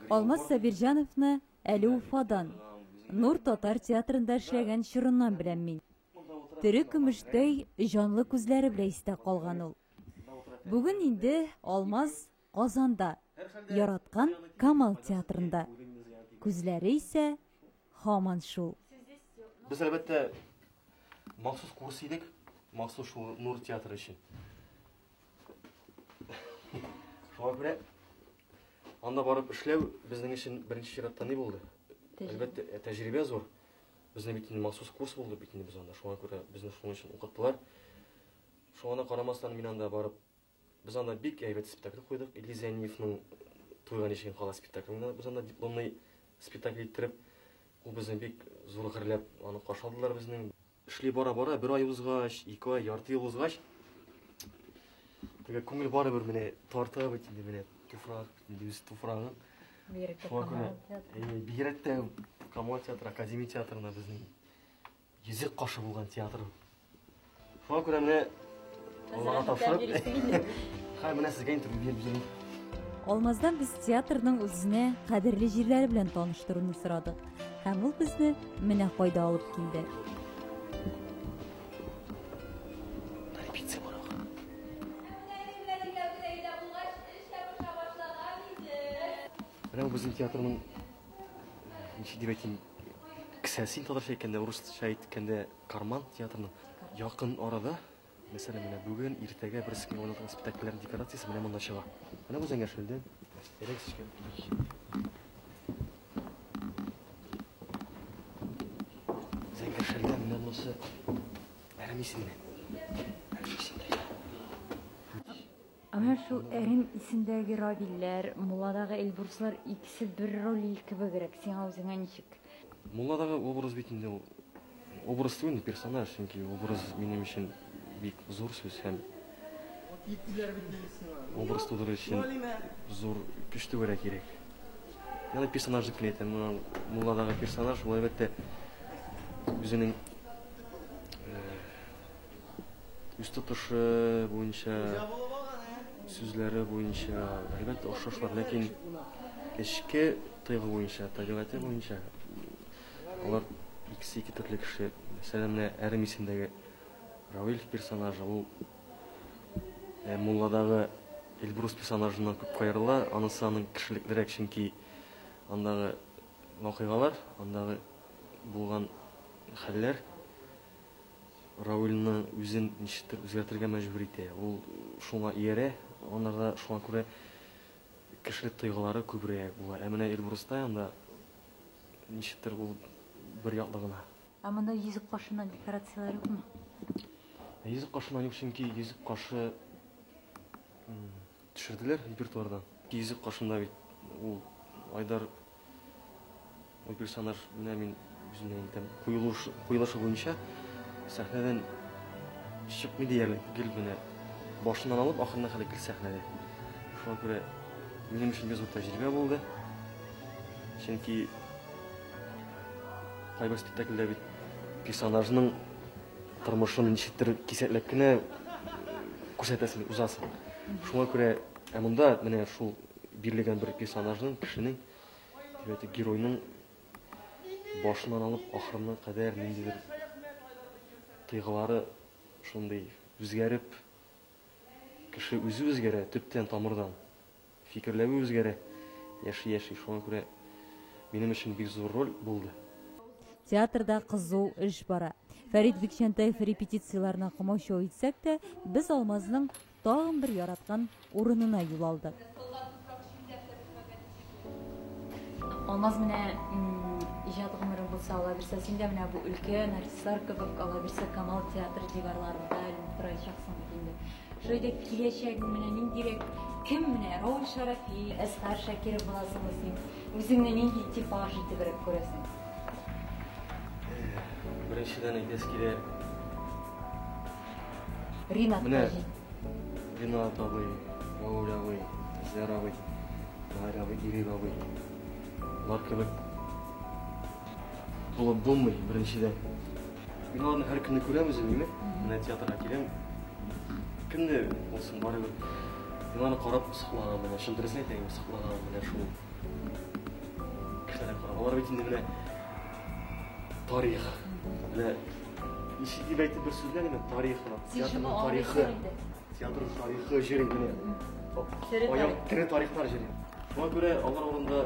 Алмаз Сабирҗановны әле Уфадан, Нур татар театрында эшләгән чорыннан беләм мин. Тере көмештәй җанлы күзләре белән истә калган ул. Бүген инде Алмаз Казанда, яраткан Камал театрында. Күзләре исә һаман шул. Без, әлбәттә, махсус курс идек, махсус шул Нур театры өчен. Шуңа күрә анда барып эшләү безнең өчен беренче чиратта ни булды? Әлбәттә, ә, тәҗрибә зур. Безне бит инде махсус курс булды бит инде без анда. Шуңа күрә безне шуның өчен укыттылар. Шуңа да карамастан мин анда барып Без анда бик әйбәт спектакль куйдык. Илгиз Зәйниевның Туйга ничегем кала спектакльне без анда дипломный спектакль иттереп, ул безне бик зур гөрләп аны каршы алдылар безнең. Эшли бара-бара, бер ай узгач, ике ай, ярты ел узгач, теге күңел барыбер менә тарта бит инде менә туфрак, инде үз туфрагың. Бигрәк тә Камал театры. Бигрәк тә Камал театры, Академия театрына безнең Йөзек кашы булган театрым. Шуңа күрә менә Аллага тапшырып, хәй менә сезгә интервью биреп йөрим. Алмаздан без театрның үзенә кадерле җирләре белән таныштыруны сорадык. Һәм ул безне менә кайда алып килде. Менә бу безнең театрның ничек дип әйтим, кесәсен татарча әйткәндә, урысча әйткәндә, карман театрының якын арада, мәсәлән, менә бүген, иртәгә бер сменада уйнатылган спектакльләрнең декорациясе менә монда чыга. Менә бу Зәңгәршүлдән элек төшкән кич. Зәңгәршүлдә менә монысы әрәмисеннән. Әнә шул әрем исемдәге Равилләр, Мулладагы Эльбруслар икесе бер Ролиль кебегрәк, сиңа үзеңә ничек? Мулладагы образ бит инде ул образ түгел инде, персонаж, чөнки образ минем өчен бик зур сүз һәм образ тудыру өчен зур көч түгәрәк кирәк. Аны персонаж дип кенә әйтәм. Менә Мулладагы персонаж, ул әлбәттә үзенең Үз тотышы буенча, сүзләре буенча, әлбәттә, охшашлар, ләкин эчке тойгы буенча, табигате буенча, алар икесе ике төрле кеше. Мәсәлән, менә әрем исемдәге Равильф персонажы, ул э, мулладагы Эльбрус персонажыннан күп кайрыла, анысы аның кешелеклерәк, чөнки андагы вакыйгалар, андагы булган хәлләр, Равилны үзен ничектер үзгәртергә мәҗбүр итә. Ул шуңа иярә, анарда шуңа күрә кешелек тойгылары күбрәк була. Ә менә Эльбруста анда ничектер ул бер яклы гына. Ә монда йөзек кашыннан декорацияләр юкмы? Йөзек кашыннан юк, чөнки йөзек кашы Төшерделәр репертуардан. Йөзек каршында бит ул Айдар ул персонаж менә мин үземнән әйтәм, куелуш, куелышы буенча сәхнәдән чыкмый диярлек, гел менә башыннан алып ахырына хәле гел сәхнәдә. Шуңа күрә минем өчен бик зур тәҗрибә булды. Чөнки кайбер спектакльдә бит персонажның Тормышын ничектер кисәтләп кенә күрсәтәсен узасың. Шуңа күрә, ә монда менә шул бирелгән бер персонажның, кешенең, димәк, геройның башыннан алып ахырына кадәр ниндидер тыйгылары шундый үзгәреп, кеше үзе үзгәрә төптән тамырдан. Фикерләве үзгәрә, яши-яши. Шуңа күрә минем өчен бик зур роль булды. Театрда кызу эш бара. Фәрит Бикчәнтәев репетицияләрне комачау итсәк тә, без Алмазның тагын бер яраткан урынына юл алдык. Алмаз менә иҗат гомерең булса ала бирсә, син дә менә бу өлкән артистлар кебек ала бирсә Камал театры диварларында торачаксың бит инде. Шулай да киләчәгең менә ниндирәк? Кем менә? Рауль Шарафи, Әсхар Шакиров буласыңмы син? Үзеңне нинди типаж итебрәк күрәсең? Беренчедән әйтәсе килә. Ринат Менә. Таҗи. Ринат абый, Рауль абый, Әсгар абый, Гайр абый, Ирек абый. Алар кебек булып булмый, беренчедән. Мин аларны һәр көнне күрәм үзем инде. Менә театрга киләм. Көнне булсын барыбер. Мин аны карап сыкланам менә. Чын дөресен әйтәйем, сыкланам менә шул. Кешеләргә карап. Алар бит инде менә тарих. Менә ничек дип әйтеп бер сүз белән тарих. Театрның тарихы. Театрның тарихы җыр инде. Аяк тере тарихлар җыр. Шуңа күрә алар урында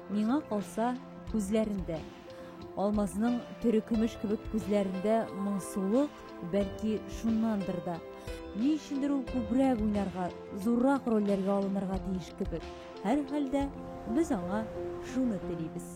Миңа калса, күзләрендә. Алмазның төрекөмеш кебек күзләрендә моңсулык, бәлки шуннандыр да. Ни өчендер ул күбрәк уйнарга, зуррак рольләргә алынырга тиеш кебек. Һәрхәлдә, без аңа шуны телибез.